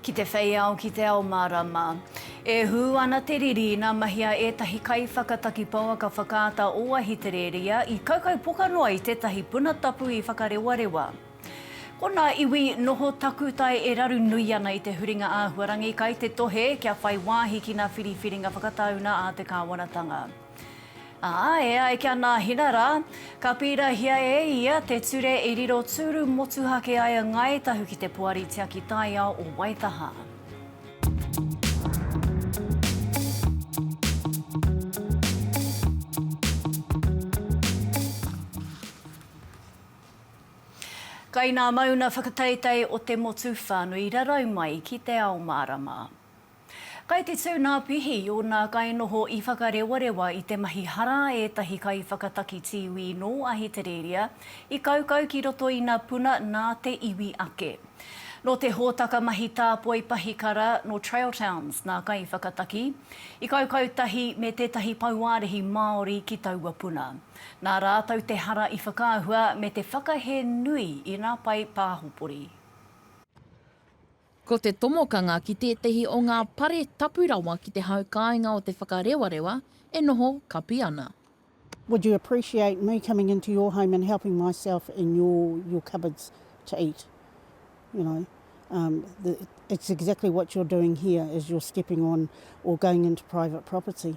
Ki te whei ao, ki te ao mārama. E hū ana te riri ina mahia ētahi kaiwhakataki pouaka whakaata o Ahitereria i kaukaupoka noa i tētahi puna tapu i Whakarewarewa. Ko nā iwi noho takutai e raru nui ana i te huringa āhuarangi kai te tohe kia whai wāhi ki nā whiriwhiringa whakatauna a te kāwanatanga. Ā, e ai ki a Nāhina rā, ka pīrahia e ia te ture i riro tūru motuhake ai a Ngāi Tahu ki te Poari Tiaki Taiao o Waitaha. Kai nā mauna whakateitei o te motu whānui rarau mai ki Te Ao Mārama. Kai te tū nā Pihi i ōna kainoho i whakarewarewa i te mahi hara a ētahi kaiwhakataki tīwī nō Ahitereiria i kaukau ki roto i nā puna nā te iwi ake. Nō te hōtaka mahi tāpoi pahikara nō Trail Towns nā kaiwhakataki i kaukau tahi me tētahi pauārehi Māori ki taua puna. Nā rātou te hara i whakaahua me te whakahē nui i nā pae pāhopori. Ko te tomokanga ki tētehi o ngā pare tapu rawa ki te hau kāinga o Te Whakarewarewa e noho kapi ana. Would you appreciate me coming into your home and helping myself in your your cupboards to eat? You know, um, the, it's exactly what you're doing here is you're stepping on or going into private property.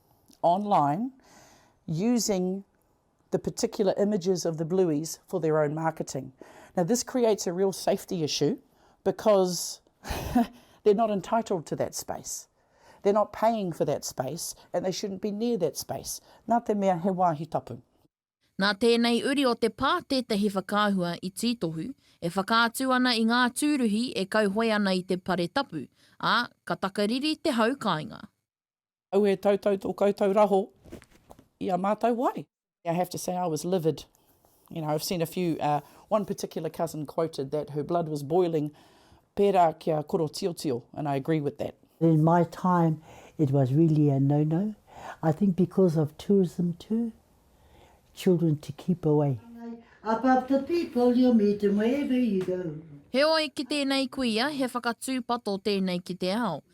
online using the particular images of the Blueys for their own marketing. Now this creates a real safety issue because they're not entitled to that space. They're not paying for that space and they shouldn't be near that space. Nā te mea he wāhi tapu. Nā tēnei uri o te pā tētahi whakaahua i tītohu, e whakaatu ana i ngā tūruhi e kauhoe ana i te pare tapu, ā, ka takariri te hau kāinga. Auē tautau tō koutou raho i a mātou wai. I have to say I was livid. You know, I've seen a few, uh, one particular cousin quoted that her blood was boiling pērā kia korotiotio, and I agree with that. In my time it was really a no no, I think because of tourism too, children to keep away. Above the people you'll meet them wherever you go. Heoi, ki tēnei kuia, he whakatūpato tēnei ki te ao.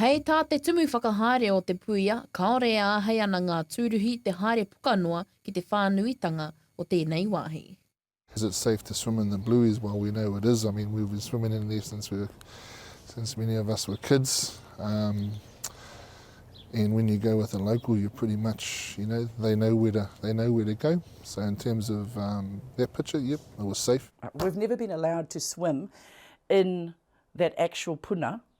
Hei tā te Tumu Whakahaere o Te Puia, kāore e āhei ana ngā tūruhi te haere puka noa ki te whānuitanga o tēnei wāhi. Is it safe to swim in the Blueies? Well we know it is, I mean we've been swimming in there since we were, since many of us were kids um and when you go with a local you pretty much, you know, they know where to, they know where to go, so in terms of um that picture, yep, it was safe. We've never been allowed to swim in that actual puna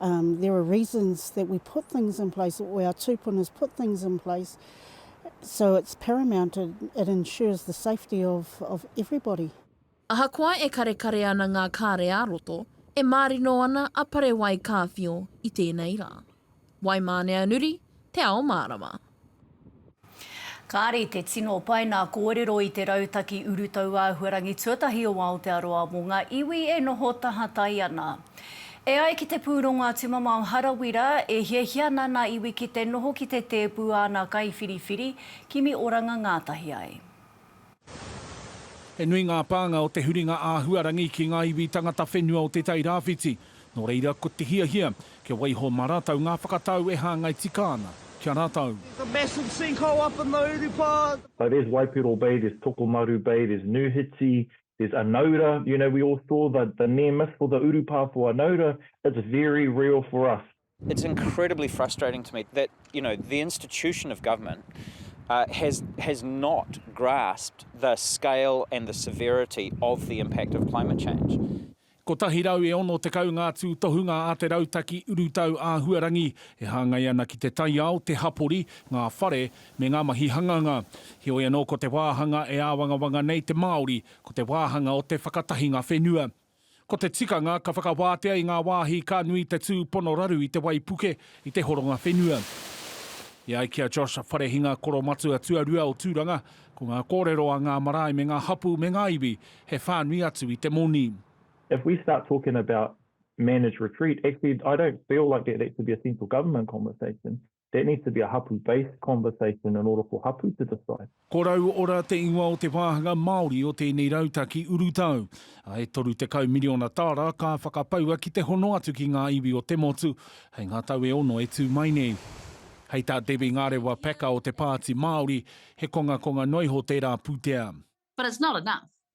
Um, there are reasons that we put things in place, or our tūpunas put things in place, so it's paramount, it, it ensures the safety of, of everybody. Ahakoa e karekare ana ngā kāre ā-roto, e mārino ana a Parewai Kāwhio i tēnei rā. Waimāneanuri, Te Ao Mārama. Kāre te tino pai nā kōrero i te rautaki urutau āhuarangi tuatahi o Aotearoa mō ngā iwi e noho tahatai ana. E ai ki te pūrongo a Tumamao Harawira, e hiahia ana nā iwi ki te noho ki te tēpu āna kaiwhiriwhiri, kimi oranga ngātahi ai. He nui ngā pānga o te huringa āhuarangi ki ngā iwi tangata whenua o Te Tai Rāwhiti, nō reira ko te hiahia kia waiho mā rātou ngā whakatau e hāngai tika ana ki a rātou. There's a massive sinkhole up in the Urupā. So there's Waipiro Bay, there's Tokomaru Bay, there's Nuhiti, there's Anaura, you know we all saw the the near miss for the Urupā for Anaura, it's very real for us. It's incredibly frustrating to me that, you know, the institution of government uh, has, has not grasped the scale and the severity of the impact of climate change. 160 ngā tūtohunga a te rautaki urutau āhuarangi e hāngai ana ki te taiao, te hapori, ngā whare, me ngā mahi hanganga. Heoi anō ko te wāhanga e āwangawanga nei te Māori, ko te wāhanga o te whakatahinga whenua. Ko te tikanga ka whakawātea i ngā wāhi ka nui te tūpono raru i te waipuke, i te horonga whenua. E ai ki a Josh Wharehinga, koromatua tuarua o Tūranga, ko ngā kōrero a ngā marae me ngā hapū me ngā iwi, he whānui atu i te moni. If we start talking about managed retreat, actually I don't feel like that that should be a central government conversation. That needs to be a hapu based conversation in order for hapu to decide. Ko Rauora te ingoa o te wāhanga Māori o tēnei rautaki urutau. A e 30 miriona tāra ka whakapaua ki te hono atu ki ngā iwi o te motu hei ngā tau e ono e tū mai nei. Hei tā Debbie Ngarewa Packer o te Pāti Māori, he kongakonga noa iho tērā pūtea. But it's not enough.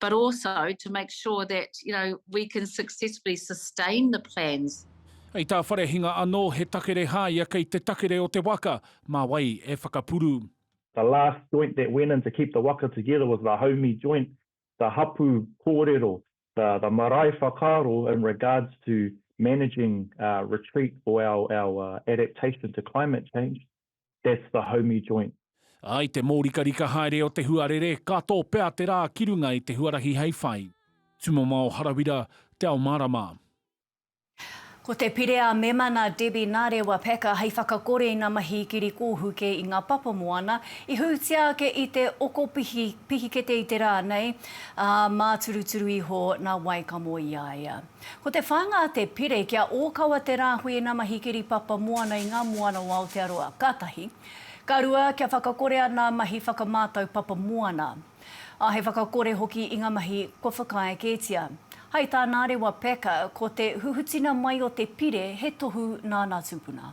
but also to make sure that you know we can successfully sustain the plans. Hei tā Wharehinga anō, he takere hāia kei te takere o te waka, mā wai e whakapuru. The last joint that went in to keep the waka together was the Haumi joint, the hapu kōrero, the the marae whakaaro in regards to managing retreat for our our adaptation to climate change. that's the homey joint. Ā, i te mōrikarika haere o te huarere, ka tō pea te rā ki runga i te huarahi hei whai. Tumamao Harawira, Te Ao Mārama. Ko te pire a Mema nā Debbie Narewa Packer hei whakakore i ngā mahi ikiri kōhuke i ngā papa moana i hūtia ake i te okopihi pihikete i te rā nei, ā, māturuturu iho nā Waikamo i a ia. Ko te whānga a Te Pire kia ōkawa te rāhui ina mahi kiri papa moana i ngā moana o Aotearoa, ka tahi. Ka rua, kia whakakore ana mahi whakamātau papa moana. Ā, he whakakore hoki i ngā mahi kua whakaae kētia. Hai tā Nārewa Packer, ko te huhutina mai o Te Pire he tohu nāna tūpuna.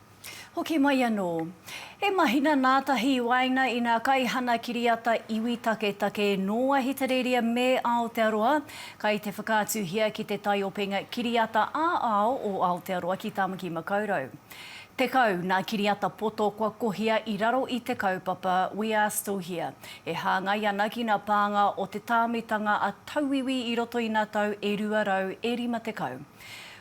Hoki mai anō. He mahina nātahi i waenga i ngā kaihana kiriata iwi taketake nō Ahitereiria me Aotearoa, kai te whakaatuhia ki te taiopenga kiriata ā-ao o Aotearoa ki Tāmaki Makaurau. Tekau ngā kiriata poto kua kohia i raro i te kaupapa We are still here, e hāngai ana ki ngā pānga o te tāmitanga a tauiwi i roto i ngā tau e rua rau e rima tekau.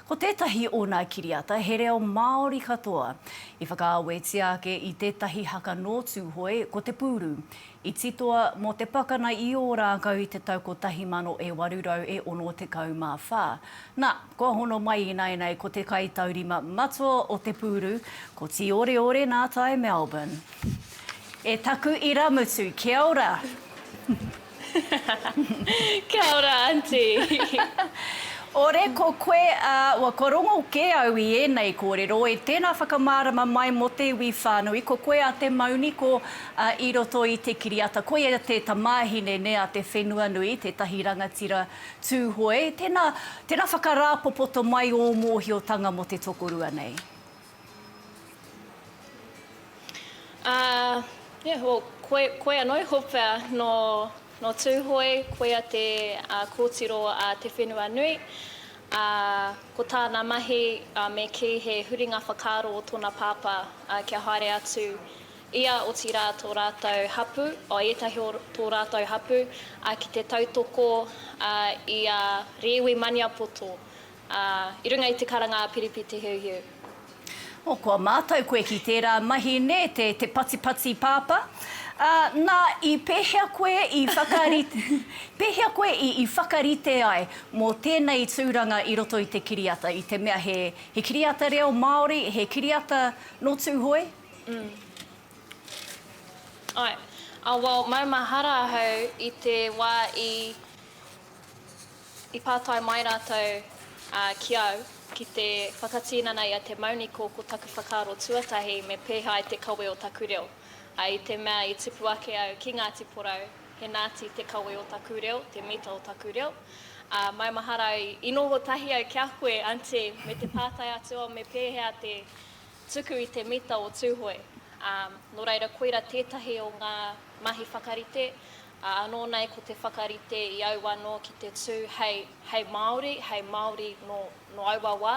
Ko tētahi ōna kiriata he reo Māori katoa. I whakaawetia ake i tētahi haka nō Tūhoe, ko Te Pūru. I titoa mō te pakana i Ōrākau i te tau 1864. Nā, kua hono mai ināianei ko te kaitaurima matua o Te Pūru, ko Tīoreore Nātai Melbourne. E taku irāmutu, kia ora! Kia ora, Aunty! Ore ko koe, ā, wa kua rongo kē au i ēnei kōrero, e tēnā whakamārama mai mō te iwi whānui, ko koe a Te Mauniko, ā, i roto i te kiriata, koia te tamāhine nē a Te Whenuanui, tētahi rangatira Tūhoe, tēnā, tēnā whakarāpopoto mai ō mōhiotanga mō te tokorua nei. Ā, yeah, well, koe, koe anō e hopea nō, nō Tūhoe, koia te ā, kōtiro ā te whenua nui, ā, ko tāna mahi, ā, me kī he huringa whakaaro o tōna pāpā, ā, kia haere atu ia, otirā tō rātou hapū, oh, ētahi o tō rātou hapū, ā, ki te tautoko, ā, i a Rēwi Maniapoto, Ā, i runga i te karanga a Piripi Te Hiuhiu. O, kua mātau koe ki tērā mahi, nē, te, te patipati pāpā. Ā, nā, i pēhea koe i whakarite, pēhea koe i, i whakarite ai mō tēnei tūranga i roto i te kiriata, i te mea he, he kiriata reo Māori, he kiriata nō Tūhoe? Mm. Āe. Ā, well, maumahara ahau i te wā i, I pātai mai rātou ki au ki te whakatinana i a Te Mauniko ko taku whakaaro tuatahi me pēhea ai te kawe o taku reo. I te mea i tipu ake au ki Ngāti Porou, he Nāti te kawe o taku reo, te mita o taku reo. Ā, maumahara au i noho tahi au ki a koe, Aunty, me te pātai atu au me pēhea te tuku i te mita o Tūhoe. Ā, nō reira koira tētahi o ngā mahi whakarite, Ā, anō nei ko te whakarite i au anō ki te tū hei, hei Māori, hei Māori nō, nō aua wā.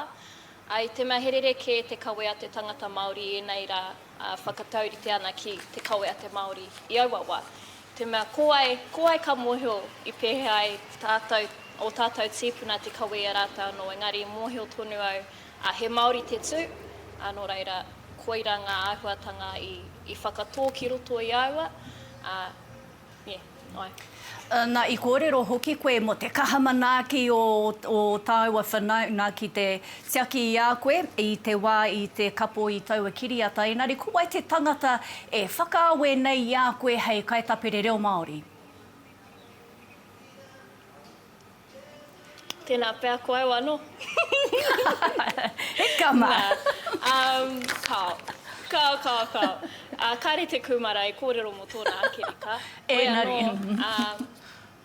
Ā, i te mea he rerekē te kawe a te tangata Māori i ēnei rā, ā, whakataurite ana ki te kawe a te Māori i aua wā. I te mea ko wai, ko wai ka mōhio i pēhea ai tātou, ō tātou tīpuna te kawe i a rātou anō, engari i mōhio tonu au, ā, he Māori te tū, ā, nō reira, koira ngā āhuatanga i, i whakatō ki roto i a aua, ā, Na, i kōrero hoki koe mō te kaha manaaki o ō tāua whanaunga ki te tiaki i a koe i te wā i te kapo i taua kiriata, engari ko wai te tangata e whakaawe nei i a koe hei kaitapere reo Māori? Tēnā pea, ko au anō. He kama! Nā, um, kao. Kao, kao, kao. Ā, kāre te kūmara e kōrero mō tōna ake reka. Koe anō, ā,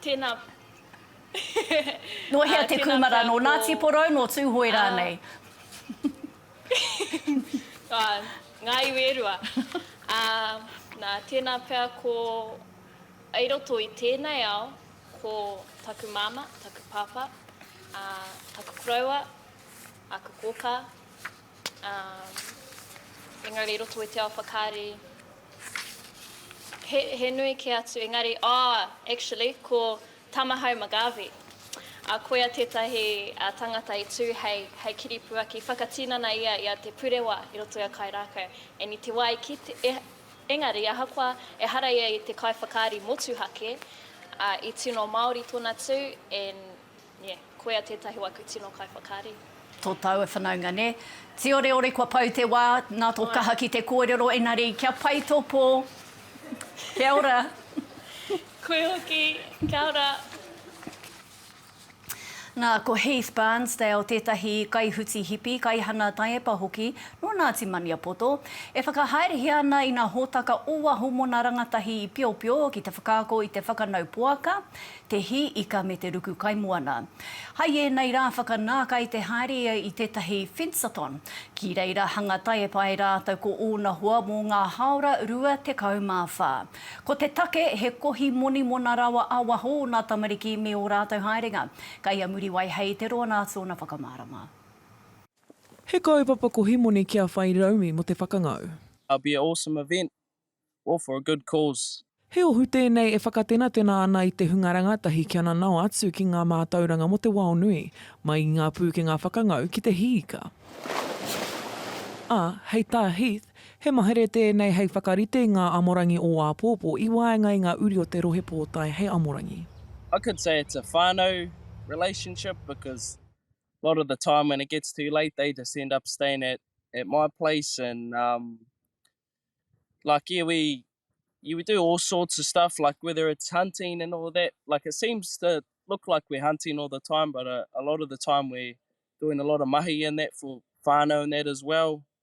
tēnā, Nō hea te kūmara? Nō Ngāti Porou, nō Tūhoe rānei? Ā, ngā iwi e rua. Ā, nā, tēnā pea ko. I roto i tēnei ao, ko taku māmā, taku pāpā, ā, taku koroua, aku kōkā, ā, engari i roto i te ao whakaari, he, he nui kē atu, engari, ā, actually, ko Tamahau McGarvey, ā, koia tētahi tangata i tū hei, hei kiripuaki, whakatinana ia i a Te Purewa i roto i a Kairākau, and i te wā i kite, Engari, ahakoa ehara ia i te kaiwhakaari motuhake, ā, i tino Māori tōna tū, and, yeah, koia tētahi o aku tino kaiwhakaari. Tō tāua whanaunga, nē? Tīoreore kua pau te wā, nā tō kaha ki te kōrero, engari, kia pai tō pō. Kia ora. Koe hoki, kia ora. Nā, ko Heath Barnsdale tētahi kaihuti hipi, kaihana taiepa hoki nō Ngāti Maniapoto, e whakahaerehia ana i ngā hōtaka o waho mō ngā rangatahi i piopio ki te whakaako i te whakanau poaka, te hī ika me te ruku kaimoana. Hai ēnei rā whakanākai te haere ia i tētahi fence-a-thon. Ki reira hanga taiepa e rātou ko ōna hoa mō ngā hāora 24. Ko te take he kohi monimona rawa a waho ona tamariki me o ratou haerenga. Kai a Muriwai hei te roa na tona whakamarama. He kaupapa kohi moni kia whai raumi mo te whakangau. I'll be a awesome event, all for a good cause. He ohu tēnei e whakatenatena ana i te hunga rangatahi kia nanao atu ki ngā mātauranga mō te wao nui, mai i ngā pūkenga whakangau ki te hiika. Ā, hei tā Heath, He mahere tēnei hei whakarite i ngā amorangi o āpōpō i waenga i ngā uri o te Rohe Pōtae hei amorangi. I could say it's a whānau relationship because a lot of the time when it gets too late they just end up staying at at my place and um like yeah we yeah we do all sorts of stuff like whether it's hunting and all that like it seems to look like we're hunting all the time but a a lot of the time we're doing a lot of mahi and that for whānau and that as well.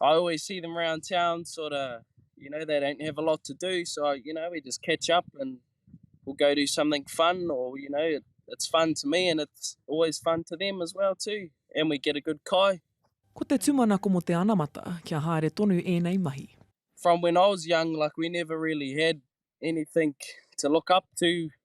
I always see them around town, sort of, you know, they don't have a lot to do. So, you know, we just catch up and we'll go do something fun or, you know, it, it's fun to me and it's always fun to them as well too. And we get a good kai. Ko te tumanako mo te anamata kia haere tonu enei mahi. From when I was young, like we never really had anything to look up to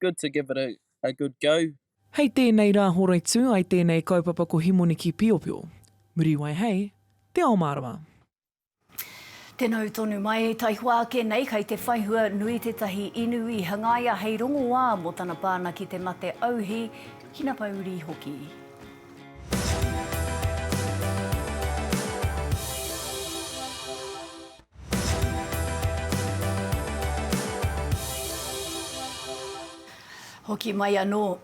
good to give it a a good go. Hei tēnei rā Horaitū ai tēnei kaupapa ko Himoniki Piopio. Muriwai hei Te Ao Mārama. Tēnā ū tonu mai. Taihoa ake nei kai te whaihua nui tētahi inu i hangaia hei rongoā mō tana pana ki te mate auhi, hinapourii hoki. Hoki mai anō.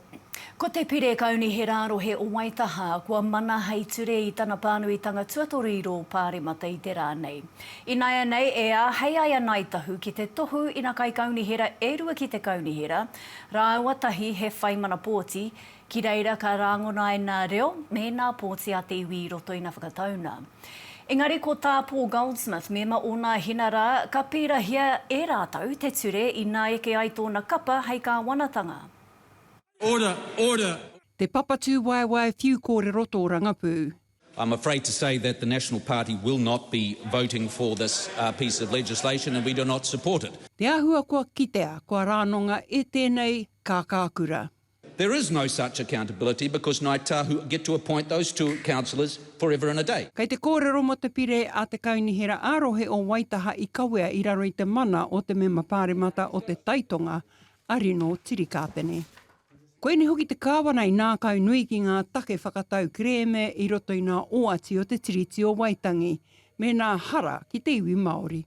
Ko Te Pire Kaunihera Rohe o Waitaha kua mana hei ture i tana pānuitanga tuatoru i rō Pāremata i te rā nei. Ināianei e āhei ai a Ngāi Tahu ki te tohu ina kaikaunihera e rua ki te Kaunihera rāua tahi he whai mana pōti Ki reira ka rāngona ai nā reo me nā pōti a te iwi i roto i nā whakatauna. Engari ko tā Paul Goldsmith, mema o nā hina rā, ka pīrahia e rātou te ture inā eke ai tōna kapa hei kāwanatanga. Order, order! Te Papa Tūwaewae Whiu Kōrero Tōrangapū. I'm afraid to say that the National Party will not be voting for this piece of legislation and we do not support it. Te āhua kua kitea, kua rānonga e tēnei kākākura. There is no such accountability because Ngāi Tahu get to appoint those two councillors forever and a day. Kei te kōrero mō te pire a te Kaunihera ā-Rohe o Waitaha i kawea i raro i te mana o te Mema Pāremata o Te Tai Tonga, a Rino Tirikāpene. Koinei hoki te Kāwana i nākaunui ki ngā take whakatau kerēme i roto i ngā oati o te Tiriti o Waitangi mēnā hara ki te iwi Māori.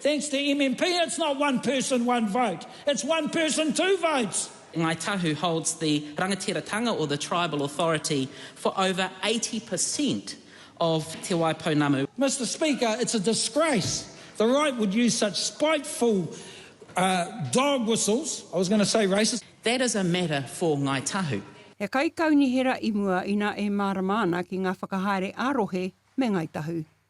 Thanks to MMP it's not one person one vote, it's one person two votes! Ngāi Tahu holds the rangatiratanga or the tribal authority for over 80 per cent of Te Wai Pounamu. Mister Speaker, it's a disgrace the right would use such spiteful dog whistles, I was going to say racist. That is a matter for Ngāi Tahu. He kaikaunihera i mua ina e mārama ana ki ngā whakahaere ā-rohe me Ngāi Tahu.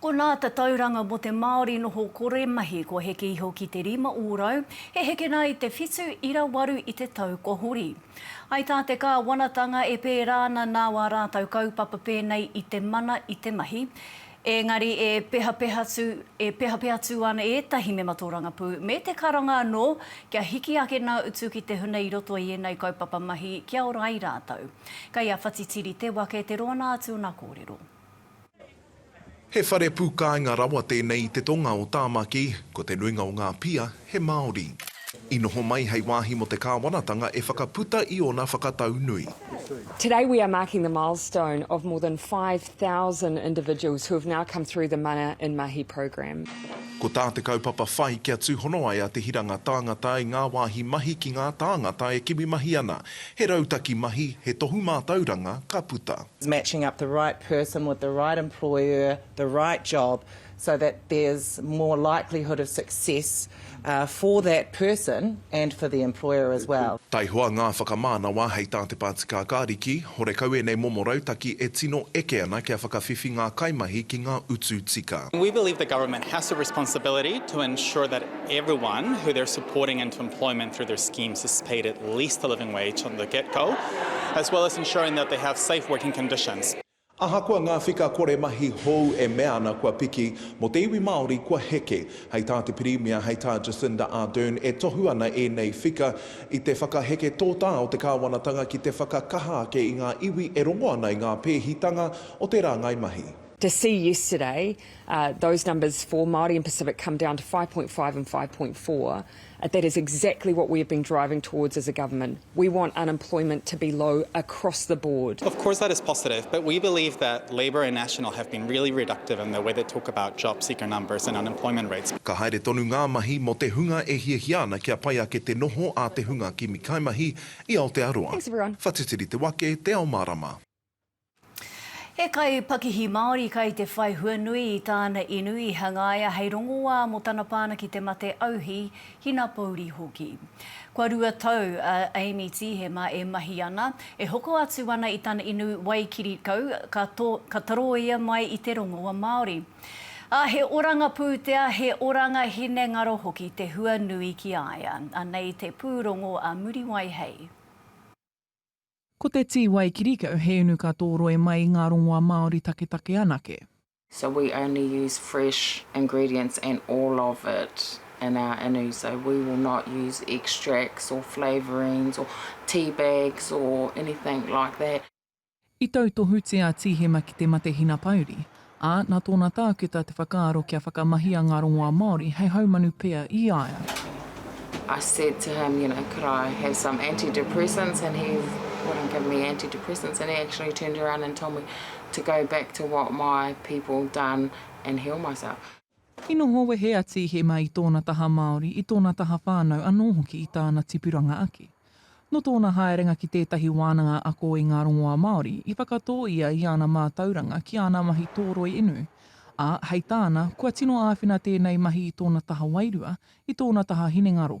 Ko nā tatauranga mo te Māori noho kore mahi kua heke iho ki te rima ōrau, he heke nā i te whitu ira waru i te tau kua hori. Hai tā te Kāwanatanga e pērā ana nā wā rātau kaupapa pēnei i te mana i te mahi, ēngari e pehapehatu e pehapeatu ana ētahi mema tōrangapū me te karanga anō kia hiki ake nā utu ki te huna i roto i ēnei kaupapa mahi kia ora ai rātau. Kei a Whatitiri te wake te roana atu o nā kōrero. He whare pūkāinga rawa tēnei i te tonga o Tāmaki, ko te nuinga o ngā pia he Māori. I noho mai hei wāhi mō te kāwanatanga e whakaputa i ōna whakatau nui. Today we are marking the milestone of more than 5000 individuals who have now come through the Mana in Mahi program. Ko tā te kaupapa whai kia tūhono ai a Te Hiranga Tāngata i ngā wāhi mahi ki ngā tāngata e kimi mahi ana. He rautaki mahi, he tohu mātauranga ka puta. matching up the right person with the right employer, the right job, so that there's more likelihood of success for that person and for the employer as well. Taihoa ngā whakamānawa hei tā te pātika Kariki, horekau ēnei momo rautaki e tino eke ana kia whakawhiwhi ngā kaimahi ki ngā utu tika. We believe the government has a responsibility to ensure that everyone who they're supporting into employment through their schemes is paid at least the living wage from the get go, as well as ensuring that they have safe working conditions. Ahakoa ngā whika kore mahi hou e mea ana kua piki, mō te iwi Māori kua heke. Hei tā te Pirimia, hei tā Jacinda Ardern, e tohu ana ēnei whika i te whakaheke tōtā o te kāwanatanga ki te whakakaha ake i ngā iwi e rongo ana i ngā pēhitanga o te rāngai mahi. To see yesterday those numbers for Māori and Pacific come down to 5.5 and 5.4, that is exactly what we have been driving towards as a government. We want unemployment to be low across the board. Of course that is positive, but we believe that Labour and National have been really reductive in the way they talk about job seeker numbers and unemployment rates. Ka haere tonu ngā mahi mō te hunga e hiahia ana kia pai ake te noho a te hunga kimi kaimahi i Aotearoa. Whatitiri te wake, te ao marama. He kaipakihi Māori kai te whai hua nui i tāna inu i hangaia hei rongoā mō tana pana ki te mate auhi, hinapōuri hoki. Kua rua tau a Amy Tīhema e mahi ana, e hoko atu ana i tana inu Waikirikau ka to, ka taroia mai i te rongoa Māori. Ā, he oranga pūtea, he oranga hinengaro hoki te hua nui ki a ia. Anei te pūrongo a Muriwai Hei. Ko te tī wai kirikau he inu ka tōroi mai i ngā rongoa Māori taketake anake. So we only use fresh ingredients and all of it in our inu, so we will not use extracts or flavourings or tea bags or anything like that. I tautohutia Tīhema ki te mate hinapauri, ā, nā tōna tākuta te whakaaro kia whakamahia ngā rongoā Māori hei haumanu pea i a ia. I said to him, you know, could I have some antidepressants and he wouldn't give me antidepressants and he actually turned around and told me to go back to what my people done and heal myself. I noho wehe a Tīhema i tōna taha Māori, i tōna taha whānau anō hoki i tāna tipuranga ake. Nō tōna haerenga ki tētahi wānanga ako i ngā rongoā Māori, i whakatō ia i ana mātauranga ki ana mahi tōroi inu, ā, hei tāna, kua tino āwhina tēnei mahi i tōna taha wairua, i tōna taha hinengaro.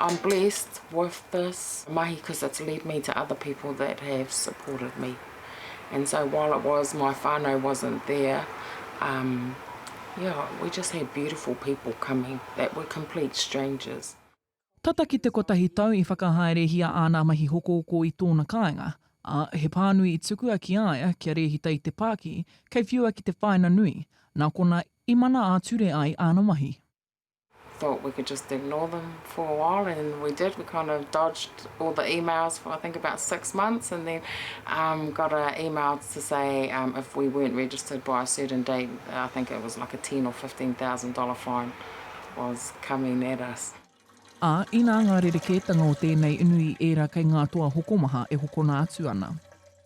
I'm blessed with this mahi cause it's led me to other people that have supported me and so while it was my whanau wasn't there um yeah we just had beautiful people coming that were complete strangers. Tata ki te kotahi tau i whakahaerehia āna mahi hokohoko i tōna kāinga, ā, he pānui i tukua ki a ia kia rēhita i te pāki kei whiua ki te whāina nui, nā konā i mana ā-ture ai āna mahi. thought we could just ignore them for a while and we did, we kind of dodged all the emails for I think about six months and then um, got an email to say um, if we weren't registered by a certain date, I think it was like a ten or fifteen thousand dollar fine was coming at us. Ā, inā ngā rerekētanga o tēnei inu i ērā kei ngā toa hokomaha e hokona atu ana.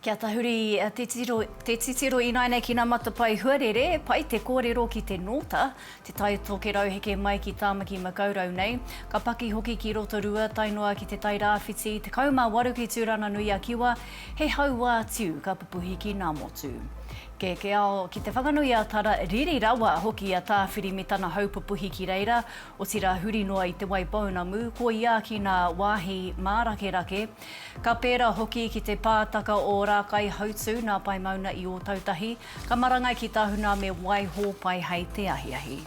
Kia tahuri te titiro, te titiro ināianei ki nā matapae huarere, pai te kōrero ki te nōta, te tai tokerau heke mai ki Tāmaki Makaurau nei, ka paki hoki ki Rotorua tae noa ki te Tai Rāwhiti, 18 ki Tūranganui-a-Kiwa, he hauā tiu ka pupuhi ki Nāmotu. Kē, kē ao, ki te whakanui a Tara, riri rawa hoki a Tāwhiri me tana hau pupuhi ki reira, otirā huri noa i Te Waipounamu, koiā ki nā wāhi mārakerake, Ka pērā hoki ki te pātaka o Rākaihautū nā Paimauna i Ōtautahi, ka marangai ki Tahuna me Waihō pai hei te ahiahi.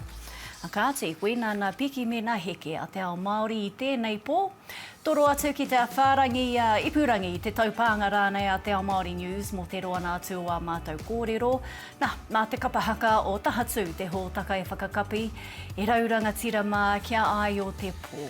Kāti, koinā nā Piki me nā Heke a te ao Māori i tēnei pō. Toro atu ki te whārangi i a Ipurangi i te taupānga rānei a Te Ao Māori News mō te roanga atu o ā mātou kōrero. Nā, nā te kapa haka o Tahatū te hōtaka e whakakapi e rau rangatira mā kia āio te pō.